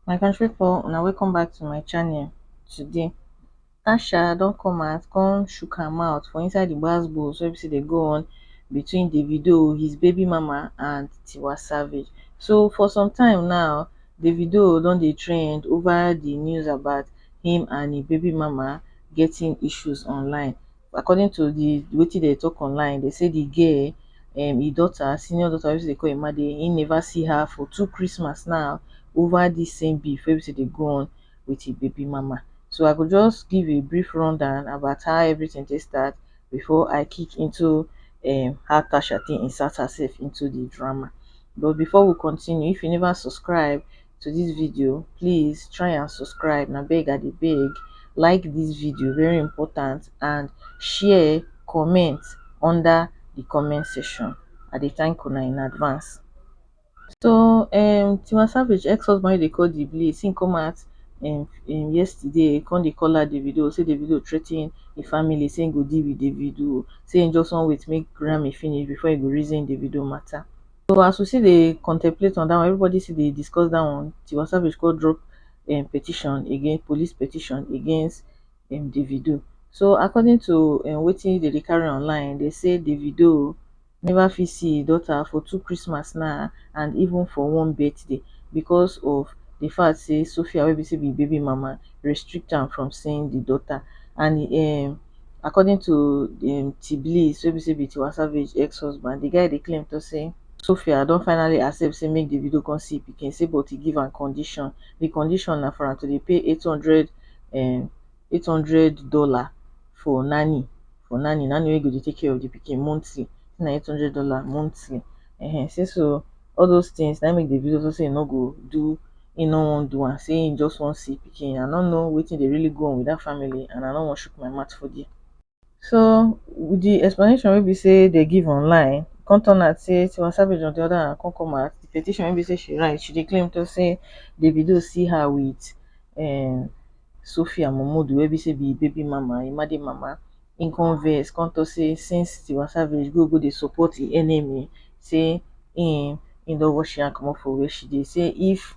my country pipo una welcome back to my channel today tasha don come out come shook her mouth for inside the gbas gbos wey be say dey go on between davido his baby mama and tiwa savage so for some time now davido don dey trend over the news about him and him baby mama getting issues online according to the wetin dem talk online dem say the girl um him daughter senior daughter wey be sey dem dey call Emade he never see her for two Christmas now over this same beef wey be sey dey go on with him baby mama so I go just give a brief run down about how everything take start before I kick into um how Tasha take insert herself into the drama but before we continue if you never subscribe to this video please try and subscribe na beg i dey beg like this video very important and share comment under the comment section i dey thank una in advance so um tiwa savage ex-husband dey call the blaze him come out um, um yesterday come dey call out davido say davido threaten the family say him go deal with davido say him just wan wait make grammy finish before he go reason davido matter So as we still dey contemplate on that one, everybody still dey discuss that one. Tiwa Savage go drop um, petition against police petition against um, Davido. So according to um, wetin they dey carry online, they say Davido never fit see his daughter for two Christmas now and even for one birthday because of the fact say Sophia wey be say be baby mama restrict am from seeing the daughter and um, according to um Tbliss wey be say be Tiwa Savage ex husband, di guy dey claim to say, Sophia don finally accept say make Davido come see e pikin say but e give am condition, di condition na for am to dey pay eight hundred um eight hundred dollar for nanny for nanny, nanny wey go dey take care of di pikin monthly, say na eight hundred dollar monthly um say so all those things na make Davido talk say he no go do he no wan do and say he just wan see pikin I no know wetin dey really go on with that family and I no wan shook my mouth for there so with the explanation wey be say they give online come turn out say Tiwa Savage on the other hand come come out the petition wey be say she write she dey claim talk say Davido see her with um Sophia Momodu wey be say be him baby mama him made mama im come vex come talk say since Tiwa Savage go go dey support im enemy say im im don wash im hand comot for where she dey say if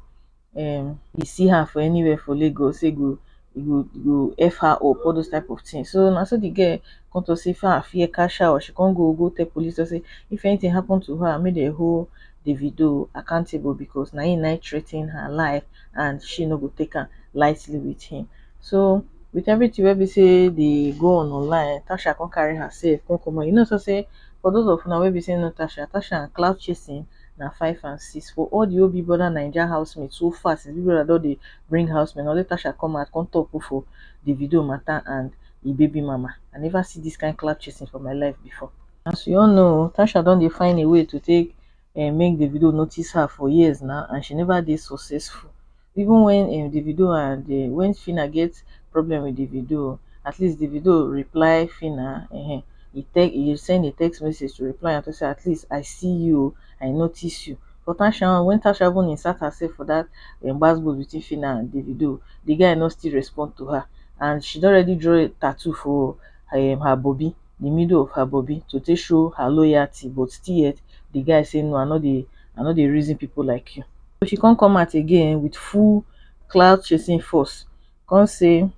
um e see her for anywhere for Lagos say e go e go e go F her up all those type of things so na so the girl come talk say far fear catch her o she come go go tell police talk say if anything happen to her make dem hold Davido accountable because na im na im threaten her life and she no go take am lightly with him So with everything wey be say dey go on online, Tasha come carry herself come come out. You know so say for those of una wey be say no Tasha, Tasha and cloud chasing na five and six. For all the whole Big Brother Naija housemate so far since Big Brother don dey bring housemate, na only Tasha come out come talk put for Davido matter and e baby mama. I never see this kind cloud chasing for my life before. As we all know, Tasha don dey find a way to take um make davido notice her for years now and she neva dey successful even wen um davido and um wen phyna get problem wit davido at least davido reply phyna um e tell e send a text message to reply am to say at least i see you o i notice you but tasha own wen tasha even insert herself for dat um gbas gbos between phyna and davido di guy no still respond to her and she don already draw tattoo for um her bobi di middle of her bobi to take show her loyalty but still yet di guy say no I no dey I no dey reason pipo like you. So she come come out again wit full clout chasing force come say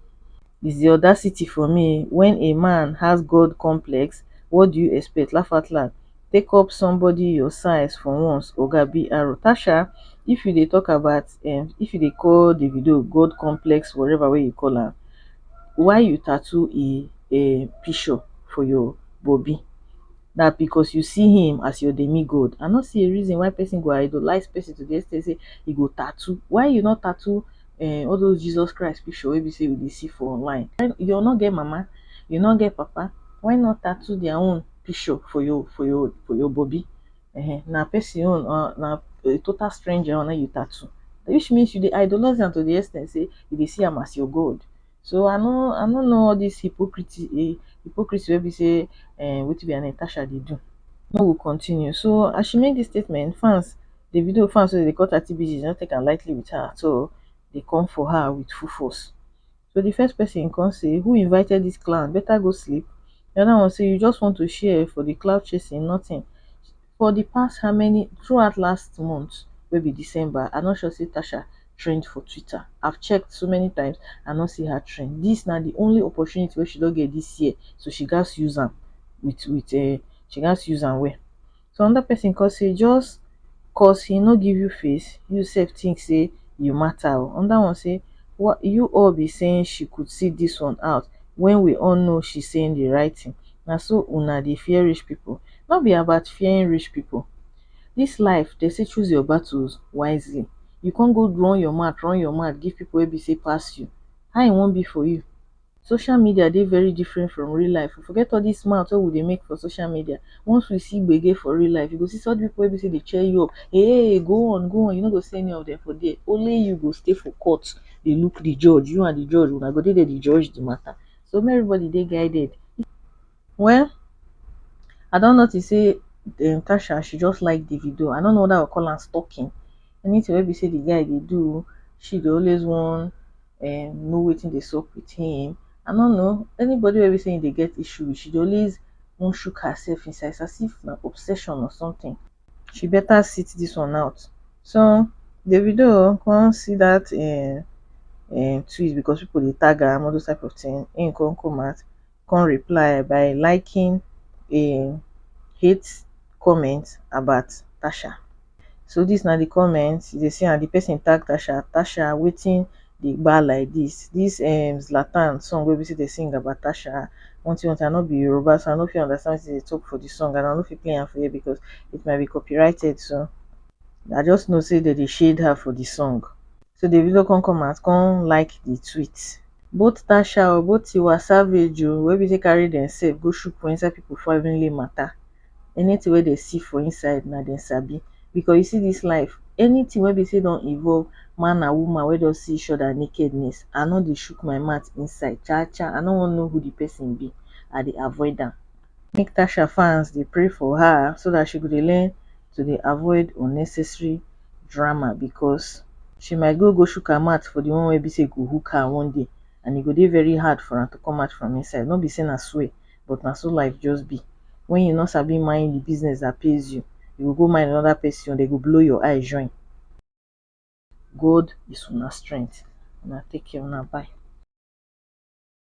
is di audacity for me wen a man has God complex what do you expect lafatland take up somebody your size for once oga BR Tasha if you dey talk about um if you dey call Davido God complex whatever wey you call am why you tattoo e um pishur for yor bobi na bikos yu si him as yor demigod i nor si a rizin why pesin go idolize pesin to di extent sey e go tattoo why yu nor tattoo um all dos jisos christ pishur wey bi sey wi dey si for online yu nor get mama yu nor get papa why nor tattoo dia own pishur for yor for yor for yor bobi um na pesin own or na a total stranger own na im yu tattoo which means yu dey idolize am to di extent sey yu dey si am as yor god So I no I no know all this hypocrisy eh, hypocrisy wey be say eh, wetin be her name Tasha dey do. No go continue. So as she make this statement, fans the video fans wey dey call thirty BGs no take am lightly with her at all. They come for her with full force. So the first person come say, who invited this clown? Better go sleep. The other one say, you just want to share for the cloud chasing, nothing. for di past how many throughout last month wey be december i no sure say tasha trend for twitter i check so many times i no see her trend dis na di only opportunity wey she don get dis year so she gatz use am wit wit um she gatz use am well so anoda pesin come say just cos he no give you face you sef tink say you mata o anoda one say you all be saying she could see dis one out wen we all know she saying di right tin na so una dey fear rich people no be about fearing rich people this life dey say choose your battles wisely you come go run your mouth run your mouth give people wey be say pass you how e wan be for you social media dey very different from real life oh forget all this mouth wey we dey make for social media once we see gbege for real life you go see such people wey be say dey cheer you up hey go on go on you no go see any of them for there only you go stay for court dey look the judge you and the judge una go dey there dey judge the matter so make everybody dey guided well I don notice say um Tasha she just like Davido I no know whether I go call am stalking anything wey be say the guy dey do she dey always wan um know wetin dey sup with him I no know anybody wey be say him dey get issue with she dey always wan shook herself inside it's as if na obsession or something. she better sit this one out so davido come see that um um tweet because people dey tag am all those type of thing him come come out come reply by liking a hate comment about tasha so this na the comment you dey see am the person tag tasha tasha wetin dey gba like dis dis um zlatan song wey be say dey sing about um wanti wanti i no be yoruba so i no fit understand wetin dey talk for the song and i no fit play am for here because it might be copyrighted so i just know say dem dey shade her for the song so davido come come out come like the tweet both tasha o both tiwa savage o wey be say carry demsef go shook for inside people family matter anything wey dem see for inside na dem sabi because you see this life anything wey be say don involve man and woman wey just see each other nakedness I no dey shook my mouth inside cha cha I no wan know who the person be I dey avoid am make Tasha fans dey pray for her so that she go dey learn to dey avoid unnecessary drama because she might go go shook her mouth for the one wey be say go hook her one day and e go dey very hard for am to come out from inside no be say na swear. but na so life just be when you no sabi mind the business that pays you, you go go mind another person own, they go blow your eye join. God is una strength. Una take care, una bye.